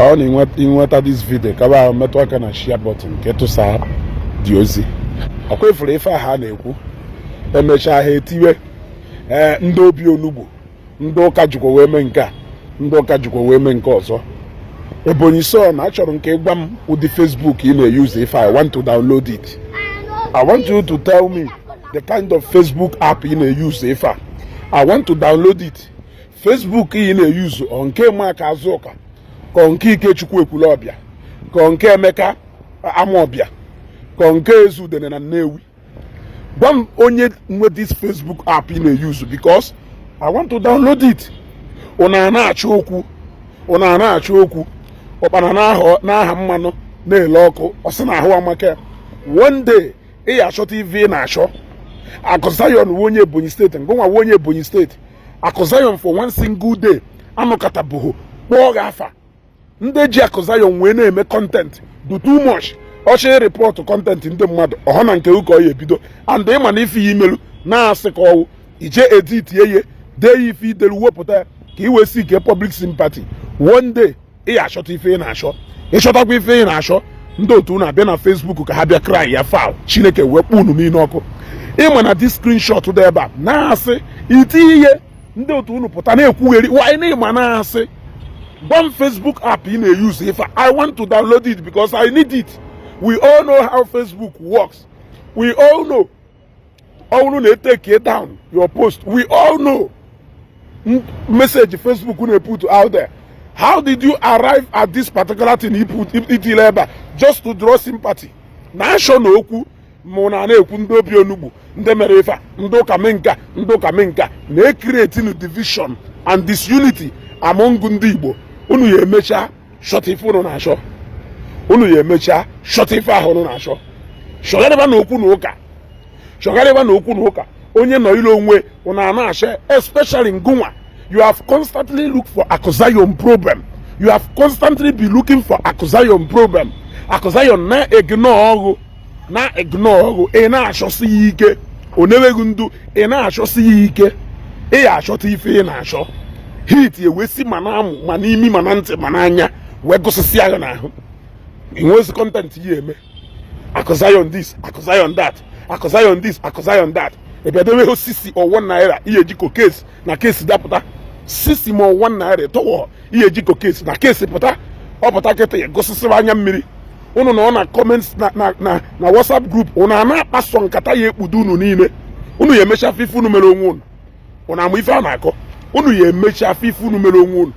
ọ na i nweta this video ka ba metụ aka na share button ka ị tụsa dị ozi ọkwa ị fụrụ ife a ha na-ekwu emechaa ha etiwe ee ndị obi onugbu ndị ụka jikwa wee mee nke a ndị ụka jikwa wee mee nke ọzọ Ebonyi so na achọrọ m ka ị gwa m ụdị Facebook ị na-eyuzu ife I want to download it I want you to tell me the kind of Facebook app ị na-eyuzu ife a I want to download it Facebook ị na-eyuzu ọ nke Amaka Azụka ka ọ nke Ikechukwu Ekwulọbịa ka ọ nke Emeka Amaọbịa ka ọ nke Ezudene na Nnewi gwa m onye nwe this Facebook app ị na-eyuzu because I want to download it unu ana-achọ okwu unu ana-achọ okwu ụkpana na-aha mmanụ na-ele ọkụ ọ sị na ahụ amaka one day ị ya achọta ife ị na-achọ Akụ Zion wụ onye Ebonyi State ngụnwa wụ onye Ebonyi State Akụ Zion for one single day anọkatabughị kpọọ gị afa ndị ji Akụ Zion wee na-eme content dị too much ọchị report content ndị mmadụ ọ wụ na nke gụ ka ọ ya ebido and ị ma na ife a i melu na-asị ka ọ wụ i je editie dee ya ife i delu wepụta ya ka i wee seek public sympathy one day ị ya achọta ife ị na-achọ ị chọtakwa ife ị na-achọ ndị otu unu abịa na Facebook ka ha bịa cry ya foul Chineke wee kpọọ unu niile ọkụ ị ma na this screenshot dị ebe a na-asị i tiye ndị otu unu pụta na-ekwugheri wanyị na ị ma na-asị gwa m Facebook app ị na-eyuzu ife I want to download it because I need it we all know how Facebook works we all know ọ bụrụ na e take down your post we all know message Facebook na-put out there how did you arrive at this particular thing i tile ebe a just to draw sympathy na-ashọ na okwu mụ na na-ekwu ndị obi onugbu ndị mere ife ndị ụka mee nke a ndị ụka mee nke a na-ecreating division and disunity among ndị Igbo unu ya emechaa shọta ife unu na-achọ unu ya emechaa shọta ife ahụ unu na-achọ chọgharịba na okwu na ụka chọgharịba na okwu na ụka onye nọlụ onwe unu ana-achọ especially ngụnwa you have constantly look for Akụ Zion problem you have constantly been looking for Akụ Zion problem Akụ Zion na-ignore gụ na-ignore gụ ị na-achọsi ya ike o newe gụ ndu ị na-achọsi ya ike ị ya achọta ife ị na-achọ heat ewee si ma na amụ ma n'imi ma na ntị ma n'anya wee gụsịsịa ya n'ahụ i nwezi content ị ya eme Akụ Zion this Akụ Zion that Akụ Zion this Akụ Zion that ebiadowe sisi ọ wụ naira ihe jiko case na case dapụta sisi ma ọ wụ naira tọwọ ihe jiko case na case pụta ọ pụta kịta ya gụsịsịwa anya mmiri ụnụ nọ na comment na WhatsApp group ụnụ a na-akpasọ nkata ya ekpudo unu niile unu ya emecha afụ ife unu mere onwe unu ụnụ ama ife a na-akọ unu ya emecha afụ ife unu mere onwe unu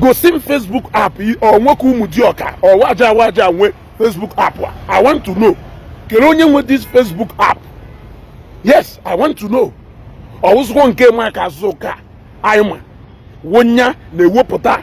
gosi m Facebook app ọ nwoke Ụmụdịọka ọwaja awaja nwe Facebook app I want to know kere onye nwe this Facebook app yes I want to know ọ wụzụkwọ nke Mark Zucker anyị ma wụ onye na-ewepụta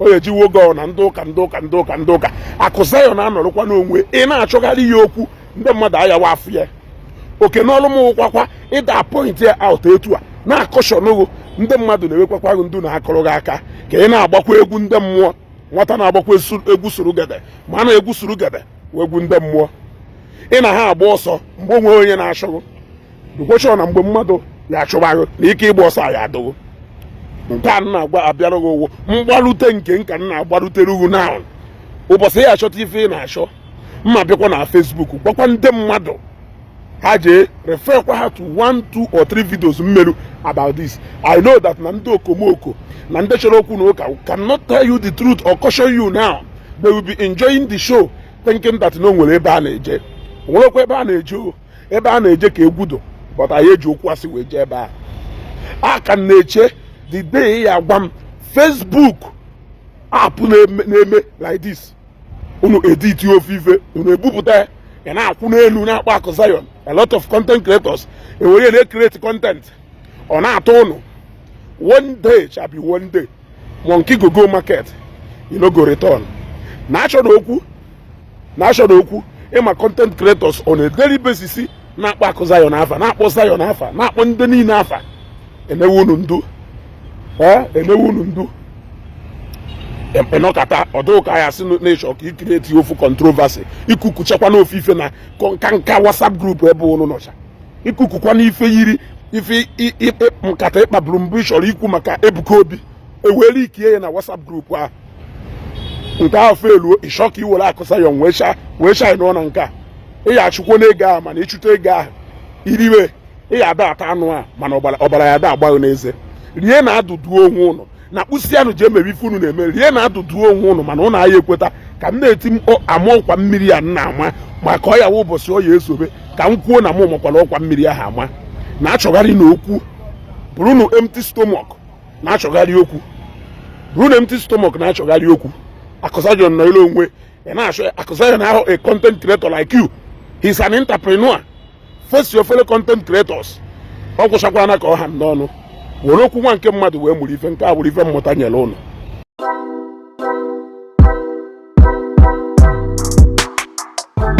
o ejiwo oge ọ na ndị ụka akụ Zion na-anọrọkwa n'onwe ị na-achọgharị ya okwu ndị mmadụ ayawa afụ ya oke n'ọrụ m ọkwakwa ịda point ya out etu a na-caution ghị ndị mmadụ na-ewekwakwa gị ndu na-akụrụ gị aka ka ị na-agbakwa egwu ndị mmụọ nwata na-agbakwa egwu surugede ama na egwu surugede wụ egwu ndị mmụọ ị na ha agba ọsọ mgbe o nwe onye na-achụ ghị dụkwọ sure na mgbe mmadụ ya achụba ghị na ike ịgba ọsọ ya adị ghị nke a na-agba abịara gị ugwu mgbarute nke nka nna agbarutere ugwu na ụbọchị ya achọta ife ị na-achọ m abịakwa na Facebook gwakwa ndị mmadụ ha jee refer kwa ha to one two or three videos m merụ about this I know that na ndị okomoko na ndị chọrọ okwu na ụka cannot tell you the truth or caution you now they will be enjoying the show thinking that na o nwere ebe a na-eje o nwerekwa ebe a na-eje o ebe a na-eje ka egwudo but anyị eji okwu asị wee jee ebe a a ka m na-eche the day ya agwa m Facebook app na-eme like this unu edit ofu ife unu ebupụta ya na-akwụ n'elu na-akpọ akụ Zion a lot of content creators ewere na-create content ọ na-atọ ụnụ one day shall be one day monkey go go market e no go return na-achọnụ okwu na-achọnụ okwu ị ma content creators on a daily basis na-akpọ akụ Zion afa na-akpọ Zion afa na-akpọ ndị niile afa emewe unu ndu emewe unu ndu ị nọkata ọ dụ ka ya sị na ị chọ ka i create ofu controversy ikukuchakwa n'ofu ife na nka nka WhatsApp group ebe unu nọcha ikukukwa n'ife yiri ife nkata ị kpaburu mbụ ị chọrọ ikwu maka Ebuka Obi ewere leakie ya na WhatsApp group ahụ nke ahụ failuo ị chọọ ka i were akụ Zion wee shine na nke a ị ya achụkwo n'ego ahụ mana ị chụta ego ahụ i riwe ị ya ada ata anụ a mana ọbara ya ada agba ghị n'eze rie na adụdu onwe ụnụ na kpụsịanụ ji emebi ife unu na-eme rie na adụdu onwe ụnụ mana ụnụ aya ekweta ka m na-eti ama ọkwa mmiri ya na-ama maka ọ ya ụbọchị ọ ya ezobe ka m kwuo na m makwara ọkwa mmiri ahụ ama na-achọgharịnụ okwu burunu empty stomach na-achọgharị okwu ruo na empty stomach na-achọgharị okwu Akụ Zion nọ ile onwe ị na-achọ Akụ Zion ahụ a content creator like you he's an entrepreneur face your fellow content creators ọ gwụchakwana ka ọ ha m n'ọnụ were okwu nwa nke mmadụ wee mụrụ ife nke a bụrụ ife mmụta nyere ụnụ